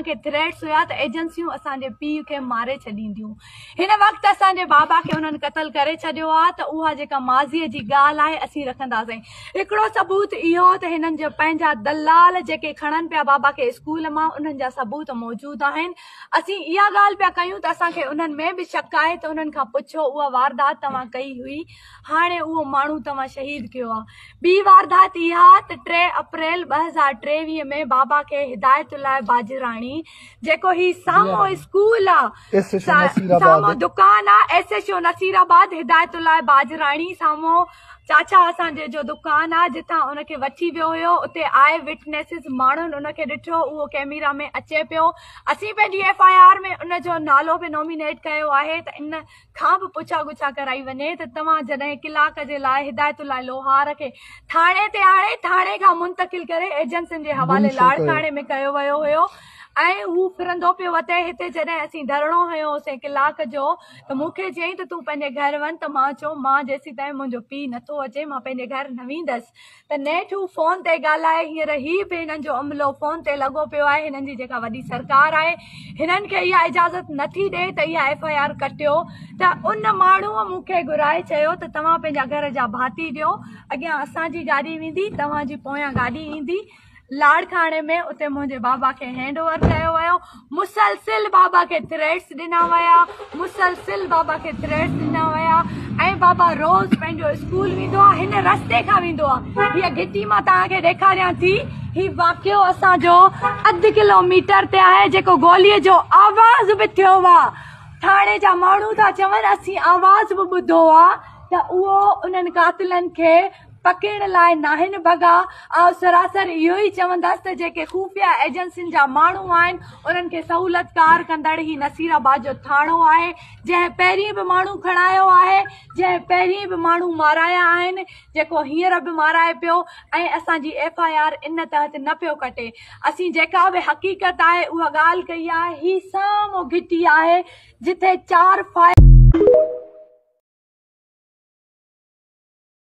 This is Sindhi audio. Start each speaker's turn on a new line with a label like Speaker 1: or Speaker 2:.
Speaker 1: اسان کي ٿريٽس هيا ته ايجنسيون اسان جي پيء کي ماري ڇڏينديون هن وقت اسان جي بابا کي انهن قتل ڪري ڇڏيو آهي ته اها جيڪا ماضي جي ڳالهه آهي اسين رکنداسين هڪڙو ثبوت اهو ته هنن جا پنهنجا دلال جيڪي کڻن پيا بابا کي اسڪول مان انهن جا ثبوت موجود آهن اسين اها ڳالهه پيا ڪيون ته اسان کي انهن ۾ به شڪ آهي ته انهن کان پڇو اها واردات توهان ڪئي هئي هاڻي اهو ماڻهو توهان شهيد ڪيو آ. ٻي واردات اها ته ٽي اپريل ٻه هزار ٽيويهه ۾ بابا کي هدايت الله باجراڻي جيڪو هي سامهون اسڪول آ سامهون دڪان آ S H O Nasirabad Hidayatullah باجراڻي سامهون چاچا اسان جي جو دڪان آ جتان ان کي وٺي ويو هيو اتي آء وٽنيسز ماڻهن ان کي ڏٺو اهو ڪيميرا ۾ اچي پيو اسين پنهنجي ايف آء آر ۾ ان جو نالو به نومينيٽ ڪيو آهي ته ان کان به پڇا ڳڇا ڪرائي وڃي ته توهان جڏهن ڪلاڪ جي لاء هدايت الله لوهار کي ٿاڻي تي آڻي ٿاڻي کان منتقل ڪري ايجنسين جي حوالي لاڙڪاڻي ۾ ڪيو ويو هيو ۽ هو ڦرندو پيو وتي هتي جڏهن اسين ڌرڻو هنيو هوسين ڪلاڪ جو ته مون کي چيائين ته تون پنهنجي گهر وڃ ته مان چيو مان جيسيتائين منهنجو پيء نٿو اچي مان پنهنجي گهر نه ويندس ته نيٺ هو فون تي ڳالهائي هينئر هي به هنن جو عملو فون تي لڳو پيو آهي هنن جي جيڪا وڏي سرڪار آهي هنن کي اها اجازت نٿي ڏئي ته اها ايف آء آر ڪٽيو ته ان ماڻهو مون کي گهرائي چيو ته توهان پنهنجا گهر جا ڀاتي ڏيو اڳيان اسان جي گاڏي ويندي توهان جي پويان گاڏي ايندي لاڙڪاڻي ۾ اتي منهنجي بابا کي هينڊ اوور ڪيو ويو مسلسل بابا کي ٿريٽس ڏنا ويا مسلسل بابا کي ٿريٽس ڏنا ويا ۽ بابا روز پنهنجو اسڪول ويندو آهي هن رستي کان ويندو آهي هي گهٽي مان توهان کي ڏيکاريان ٿي هي واقعو اسان جو اڌ ڪلوميٽر تي آهي جيڪو گولي جو آواز به ٿيو آهي ٿاڻي جا ماڻهو ٿا چون اسين آواز به ٻڌو آهي ته اهو انهن قاتلن کي پکيڙڻ لاء ناهن ڀڳا، آئون سراسر اهو ئي چوندس ته جيڪي خفيه ايجنسين جا ماڻهو آهن انهن کي سهولتڪار ڪندڙ هي نصير آباد جو ٿاڻو آهي جنهن پهرين به ماڻهو کڻايو آهي جنهن پهرين به ماڻهو مارايا آهن جيڪو هينئر به مارائي پيو ۽ اسان جي ايف آء آر ان تحت نه پيو ڪٽي اسين جيڪا به حقيقت آهي اها ڳالهه ڪئي آهي هي سامهون گهٽي آهي جتي چار فائر